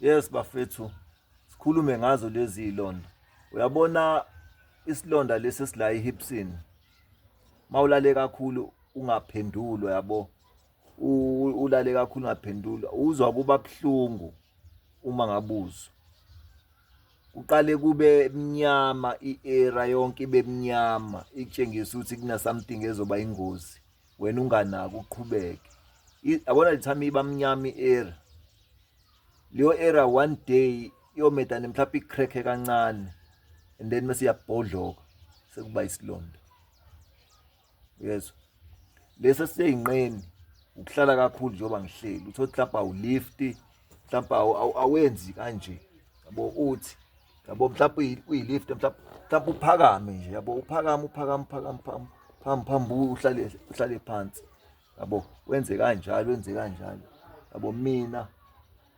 Yes bafethu sikhulume ngazo lezi londa. Uyabona isilonda lesi sila ehipsini. Mawulale kakhulu ungaphendulwa yabo. Ulale kakhulu ungaphendulwa uzwa kuba buhlungu uma ngabuzwa. Kuqale kube mnyama i-era yonke ibe mnyama itshengisa ukuthi kuna something ezoba ingozi. wena unganaki uqhubeke yabona lithami ibamnyami era leyo era one day iyomedane mhlawumbe ikhrekhe kancane and then mase iyabhodloka sekuba isilonda yezwa lesi seyinqeni ukuhlala kakhulu njengoba ngihleli uthi mhlawumbe awulifti mhlawumbe awenzi kanje yabo uthi yabo mhlawumbe kuyilift mhlawumbe mhlawumbe uphakame nje yabo uphakama uphakama uphakama phambi phambi phambi uhlale uhlale phansi yabo wenze kanjalo wenze kanjalo yabo mina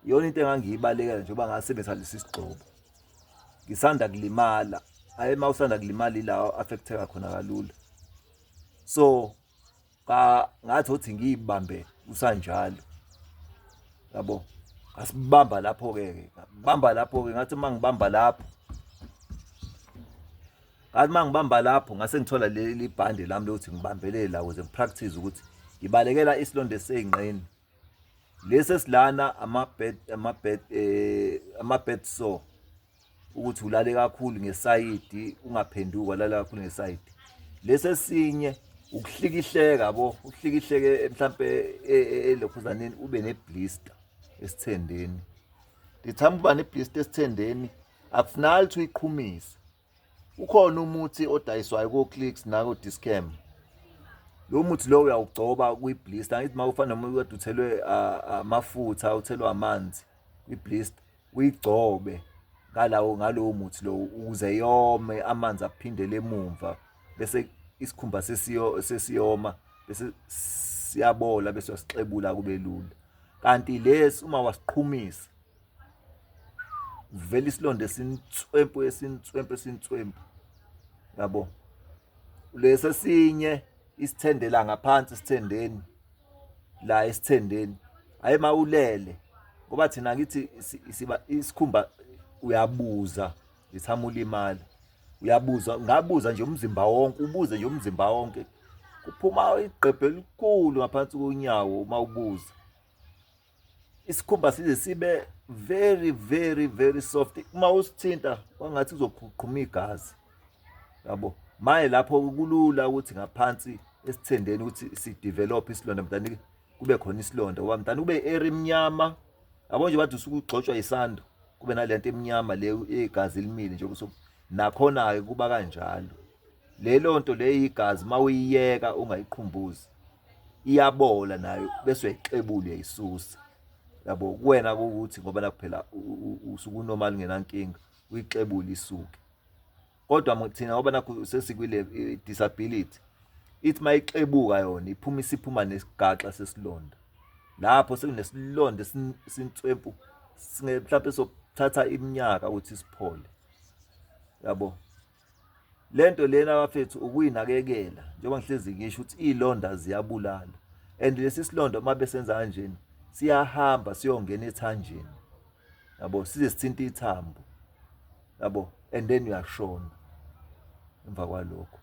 iyona into engangiyibalekela njengoba ngasebenzisa lesi sigxobo ngisanda kulimala ayi uma usanda kulimala ilawo affecteka khona kalula so ka ngathi uthi ngiyibambe usanjalo yabo ngasibamba lapho ke ngabamba lapho ke ngathi uma ngibamba lapho ngathi uma ngibamba lapho ngase ngithola leli bhande lami lokuthi ngibambelele la ukuze ngipractice ukuthi ngibalekela isilonda eseyingqeni lesi esilana ama-bed ama-bed eh, ama-bed sore ukuthi ulale kakhulu ngesayidi ungaphenduka lala kakhulu ngesayidi lesi esinye ukuhlikihleka yabo uhlikihleke mhlampe e, e, e, elokhuzaneni ube neblister esithendeni ndithanda uba neblister esithendeni akufunakali ukuthi uyiqhumise ukhona umuthi odayiswayo ko-clicks nako-discam lo muthi lowo uyawugcoba kwi-blister angithi uma ufana noma kade uthelwe amafutha uthelwe amanzi kwi-blister uyigcobe ngalawo ngalowo muthi lowo ukuze yome amanzi aphindele emumva bese isikhumba sesiyo sesiyoma bese siyabola bese wasixebula kube lula kanti lesi uma wasiqhumisa vele isilonda esintswempu esintswempu esintswempu yabo lesi esinye isithende la ngaphansi isithendeni la isithendeni hayi mawulele ngoba thina kithi siba isikhumba uyabuza ngithama ulimala uyabuza ngabuza nje umzimba wonke ubuze nje umzimba wonke kuphuma igqebhe elikhulu ngaphansi konyawo uma ubuza isikhumba size sibe very very very soft uma usithinta kwangathi uzoqhuqhuma igazi yabo maye lapho kulula ukuthi ngaphansi esithendeni ukuthi si develop isilonda mntana kube khona isilonda wa mntana kube area emnyama yabo nje bathi usuku ugxotshwa isando kube nalento emnyama le egazi elimile nje kusuku nakhona ke kuba kanjalo lelo nto le igazi uma uyiyeka ungayiqhumbuzi iyabola nayo bese uyayixebula uyayisusa yabo kuwena ukuthi ngoba nakuphela usuke unormal ngenankinga uyixebula isuke kodwa thina ngoba nakho sesikwile eh, disability ithi uma ixebuka yona iphuma isiphuma nesigaxa sesilonda lapho sekunesilonda sintswempu mhlawumbe sokuthatha iminyaka ukuthi siphole yabo lento lena bafethu ukuyinakekela njengoba ngihlezi ngisho ukuthi izilonda ziyabulala and lesi silonda uma besenza kanjena siyahamba siyongena ethanjeni yabo size sithinta ithambo yabo and then uyashona emva kwalokho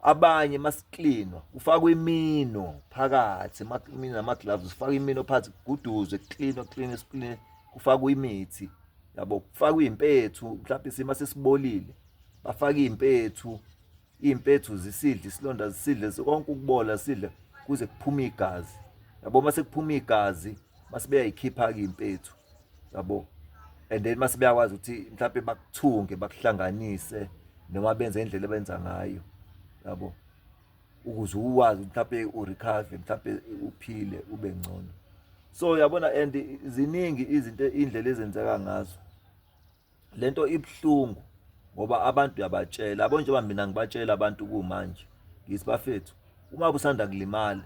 abanye masiklinwa kufakwa imino phakathi imino nama gloves kufakwa imino phakathi kuguduzwe kuklinwa kuklinwe siklinwe kufakwa imithi yabo kufakwa iy'mpethu mhlawumpe isima sesibolile bafake iy'mpethu iy'mpethu zisidle isilonda zisidle konke ukubola sidle kuze kuphume igazi yabo uma sekuphuma igazi mase beyayikhipha-ke iy'mpethu yabo and then mase beyakwazi ukuthi mhlawumpe bakuthunge bakuhlanganise noma benze indlela ebenza ngayo yabo ukuze uwazi mhlawumbe urecover mhlawumbe uphile ube ngcono so yabona and ziningi izinto indlela ezenzeka ngazo lento ibuhlungu ngoba abantu uyabatshela yabo njengoba mina ngibatshela abantu kumanje ngithi bafethu uma busanda kulimala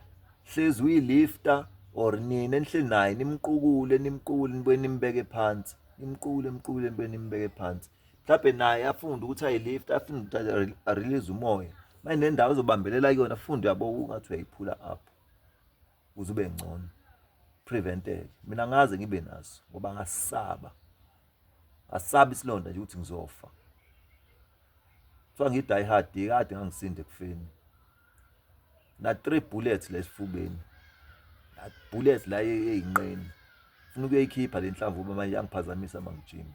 hlezi uyilifta or nina enihleli naye nimqukule nimqukule nibuye nimbeke phansi nimqukule nimqukule nibuye nimbeke phansi mhlawumbe naye afunde ukuthi ayilift afunde ukuthi arelease umoya manje nendawo ozobambelela kuyona funde yabo ungathi uyayiphula up ukuze ube ngcono preventeke mina ngaze ngibe naso ngoba ngasaba ngasaba isilonda nje ukuthi ngizofa kuthiwa ngi-die hard kade ngangisinde ekufeni na-three bullets la esifubeni bullets la eyinqeni funa ukuyoyikhipha le nhlamba uba manje yangiphazamisa mangijima